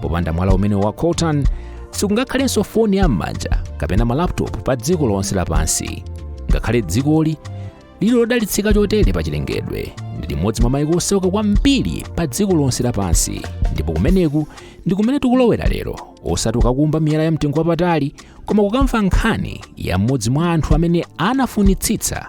popanda mwala umene wa coltan sikungakhalenso foni ya m'manja kapena malaptop pa dziko lonse lapansi ngakhale dzikoli lili lodalitsika chotere pa chilengedwe ndi limodzi mwa maiko osauka kwambiri pa dziko lonse lapansi ndipo kumeneku ndi kumene tikulowera lero osati kukumba miyala ya mtengo wapatali koma kukamva nkhani ya mmodzi mwa anthu amene anafunitsitsa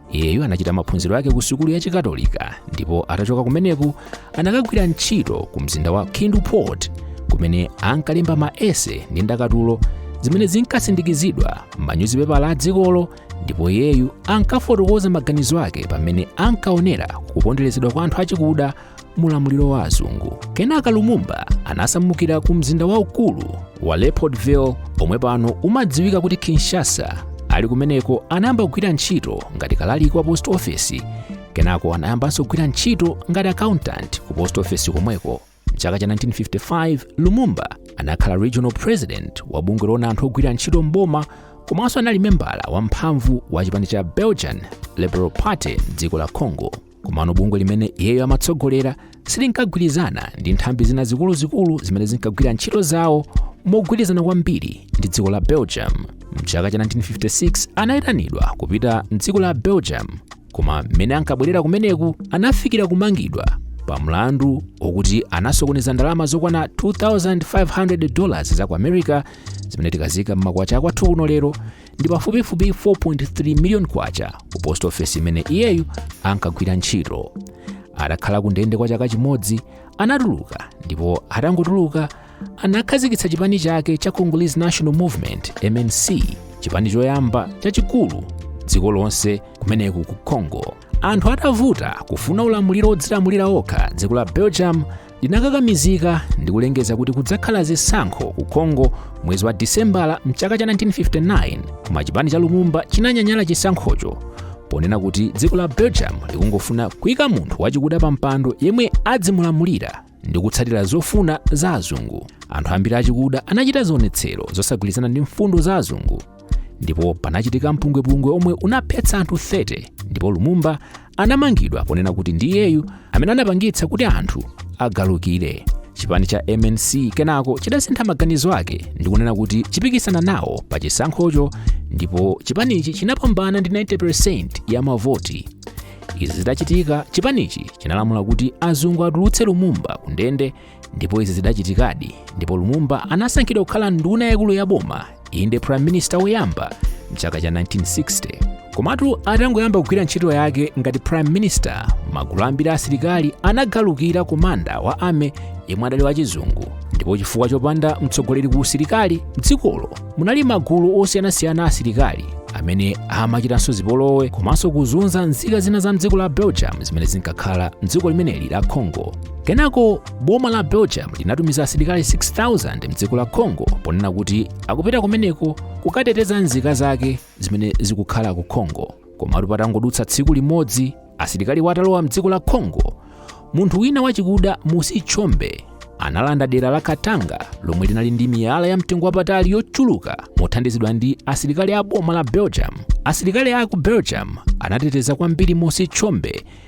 iyeyu anachita maphunziro ake ku sukulu ya chikatolika ndipo atachoka kumeneku anakagwira ntchito ku mzinda wa kindu port kumene ankalemba ma essay ndi ndakatulo zimene zinkasindikizidwa m'manyuzipepala a dzikolo ndipo iyeyu ankafotokoza maganizo ake pamene ankaonera kuponderezedwa kwa anthu achikuda mu ulamuliro wa azungu kenaka lumumba anasamukira ku mzinda waukulu wa leopoldville omwe pano umadziwika kuti kinshasa ali kumeneko anayamba kugwira ntchito ngati kalaliki wa post office kenako anayambanso kugwira ntchito ngati accountant ku post office komweko mchaka cha 1955 lumumba anakhala regional president wa bungwe loona anthu ogwira ntchito mboma komanso anali membala wamphamvu wa chipani cha belgian liberal party mdziko la congo komano bungwe limene iyeyo amatsogolera silinkagwirizana ndi nthambi zina zikuluzikulu zimene zinkagwira ntchito zawo mogwirizana kwambiri ndi dziko la belgium mchaka cha 1956 anayitanidwa kupita mdziko la belgium koma mmene ankabwerera kumeneku anafikira kumangidwa pa mlandu wokuti anasokoneza ndalama zokwana 2500 dollars za ku america zimene tikaziika mmakwacha akwathu kuno lero ndi pafupifupi 4.3 miliyoni kwacha ku post office imene iyeyu ankagwira ntchito atakhala ku ndende kwa chaka chimodzi anatuluka ndipo atangotuluka anakhazikitsa chipani chake cha congolese national movement mnc chipani choyamba chachikulu dziko lonse kumeneku ku congo anthu atavuta kufuna ulamuliro wodzilamulira okha dziko la belgium linakakamizika ndi kulengeza kuti kudzakhala zisankho ku congo mwezi wa disembala mchaka cha 1959 koma chipani cha lumumba chinanyanyala chisankhocho ponena kuti dziko la belgium likungofuna kuyika munthu wachikuda pa mpando yemwe adzimulamulira ndi kutsatira zofuna za azungu anthu ambiri achikuda anachita zionetsero zosagwirizana ndi mfundo za azungu ndipo panachitika mpungwepungwe omwe unaphetsa anthu 30 ndipo lumumba anamangidwa ponena kuti ndi iyeyu amene anapangitsa kuti anthu agalukire chipani cha mnc kenako chidasintha maganizo ake ndi kunena kuti chipikisana nawo pa chisankhocho ndipo chipanichi chinapambana ndi 90% ya mavoti izi zitachitika chipanichi chinalamula kuti azungu atulutse lumumba kundende ndipo izi zidachitikadi ndipo lumumba anasankhidwa kukhala nduna yaikulu ya boma inde prime minister woyamba mchaka cha 1960 komatu atangoyamba kugwira ntchito yake ngati prime minister magulu ambiri a asilikali anagalukira komanda wa army yemwe adali wachizungu ndipo chifukwa chopanda mtsogoleri ku usilikali mdzikolo munali magulu osiyanasiyana a asilikali amene amachitanso zipolowe komanso kuzunza nzika zina za mdziko la belgium zimene zinkakhala mdziko limeneli la congo kenako boma la belgium linatumiza asilikali 6000 mdziko la congo ponena kuti akupita kumeneko kukateteza nzika zake zimene zikukhala ku congo komatu patangodutsa tsiku limodzi asilikaliwa atalowa mdziko la congo munthu wina wachikuda moise tshombe analanda dera la katanga lomwe linali ndi miyala ya mtengo wapatali yochuluka mothandizidwa ndi asilikali a boma la belgium asilikali a ku belgium anateteza kwambiri moise tshombe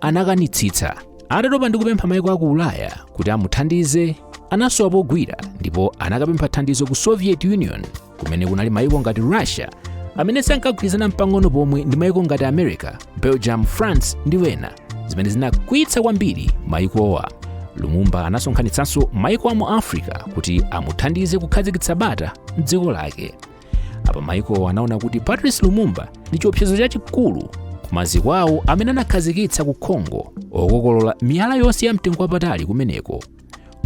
anakanitsitsa atatopa ndi kupempha maiko a ku ulaya kuti amuthandize anasowa pogwira ndipo anakapempha thandizo ku soviet union kumene kunali maiko ngati russia amene sankagwirizana mpang'ono pomwe ndi maiko ngati america belgium france ndi wena zimene zinakwiyitsa kwambiri maikowa lumumba anasonkhanitsanso maiko a mu africa kuti amuthandize kukhazikitsa bata mdziko lake apa maikowa anaona kuti patrice lumumba ndi chiopsezo chachikulu ku maziko awo amene anakhazikitsa ku congo okokolola miyala yonse ya mtengo wapatali kumeneko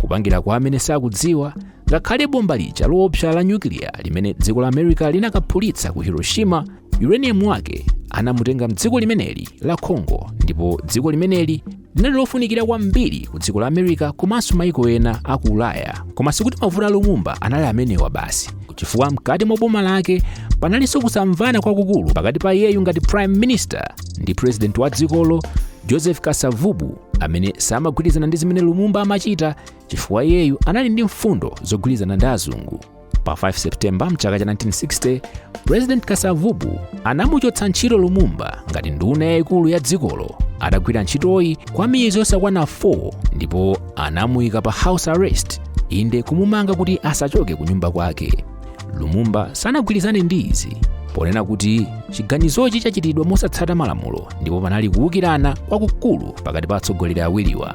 kupangira kwa amene sakudziwa ngakhale bomba lija loopsa la nyukiliya limene dziko la america linakaphulitsa ku hiroshima uranium wake anamutenga mdziko limeneli la congo ndipo dziko limeneli linali lofunikira kwambiri ku dziko la america komanso maiko ena a ku ulaya koma sikuti mavuto a lumumba anali amenewa basi chifukwa mkati mwa boma lake panalinso kusamvana kwakukulu pakati pa iyeyu ngati prime minister ndi president wa dzikolo joseph kasavubu amene samagwirizana ndi zimene lumumba amachita chifukwa iyeyu anali ndi mfundo zogwirizana ndi azungu pa 5 septemba mchaka cha 1960 president kasavubu anamuchotsa ntchito lumumba ngati nduna yayikulu ya dzikolo atagwira ntchitoyi kwa miyezi yosakwana 4 ndipo anamuyika pa house arrest inde kumumanga kuti asachoke ku nyumba kwake lumumba sanagwirizane ndi izi ponena kuti chiganizochi chachitidwa mosatsata malamulo ndipo panali kuwukirana kwakukulu pakati pa atsogoleri awiriwa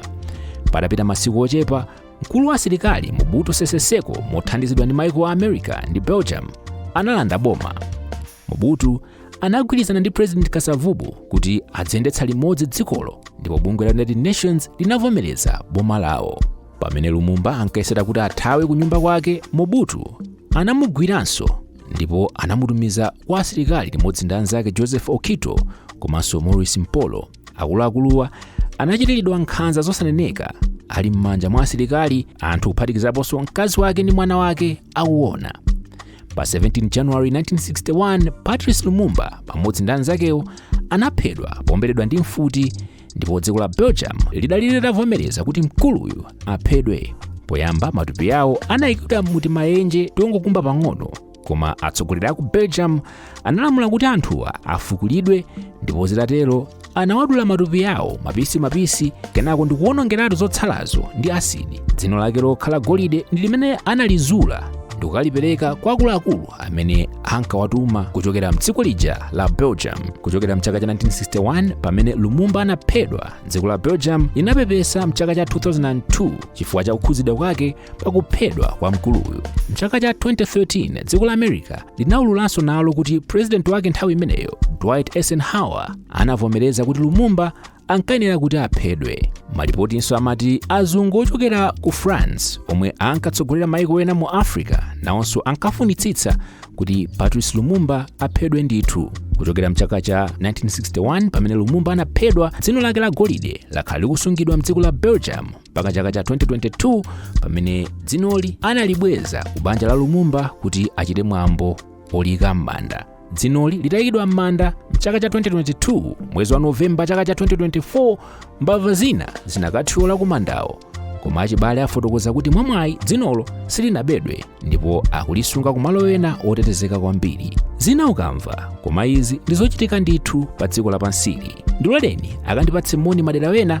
patapita masiku ochepa mkulu wa asilikali mobutu sese seko mothandizidwa ndi maiko a america ndi belgium analanda boma mobutu anagwirizana ndi president kasavubu kuti aziyendetsa limodzi dzikolo ndipo bungwe la united nations linavomereza boma lawo pamene lumumba ankayesera kuti athawe ku nyumba kwake mobutu anamugwiranso ndipo anamutumiza kwa asilikali limodzi ndi anzake joseph okito komanso maurice mpolo akuluakuluwa anachitiridwa nkhanza zosaneneka ali m'manja mwa asilikali anthu kuphatikizaponso mkazi wake ndi mwana wake akuona pa 17 january 1961 patrice lumumba pamodzi ndi anzakewo anaphedwa pomberedwa ndi mfuti ndipo dziko la belgium lidali litavomereza kuti mkuluyu aphedwe poyamba matupi yawo anayikidwa mu timayenje tongokumba pang'ono koma atsogoleri a ku belgium analamula kuti anthuwa afukulidwe ndipo zitatero anawadula matupi yawo mapisi mapisi kenako ndikuwonongeratu zotsalazo ndi asidi dzino lake lokhala golide ndi limene analizula ndikukalipereka kwa akuluakulu amene ankawatuma kuchokera mdziko lija la belgium kuchokera mchaka cha 1961 pamene lumumba anaphedwa dziko la belgium linapepesa mchaka cha 2002 chifukwa cha kukhuzidwa kwake pakuphedwa kwa mkuluyu mchaka cha 2013 dziko la america linaululanso nalo kuti purezidenti wake nthawi imeneyo dwight eisenhower anavomereza kuti lumumba ankayenera kuti aphedwe malipotinso amati azungu ochokera ku france omwe ankatsogolera maiko ena mu africa nawonso ankafunitsitsa kuti patrice lumumba aphedwe ndithu kuchokera mchaka cha 1961 pamene lumumba anaphedwa dzino lake la golide lakhala likusungidwa mdziko la belgium mpaka chaka cha 2022 pamene dzinoli analibweza ku banja la lumumba kuti achite mwambo oliyika m'manda dzinoli litayikidwa m'manda mchaka cha 2022 mwezi wa novemba chaka cha 2024 mbava zina zinakathyola ku mandawo koma achibale afotokoza kuti mwamwayi dzinolo silinabedwe ndipo akulisunga kumalo ena otetezeka kwambiri zina ukamva koma izi ndizochitika ndithu pa dziko lapansili ndiloleni ndikapatse moni madera ena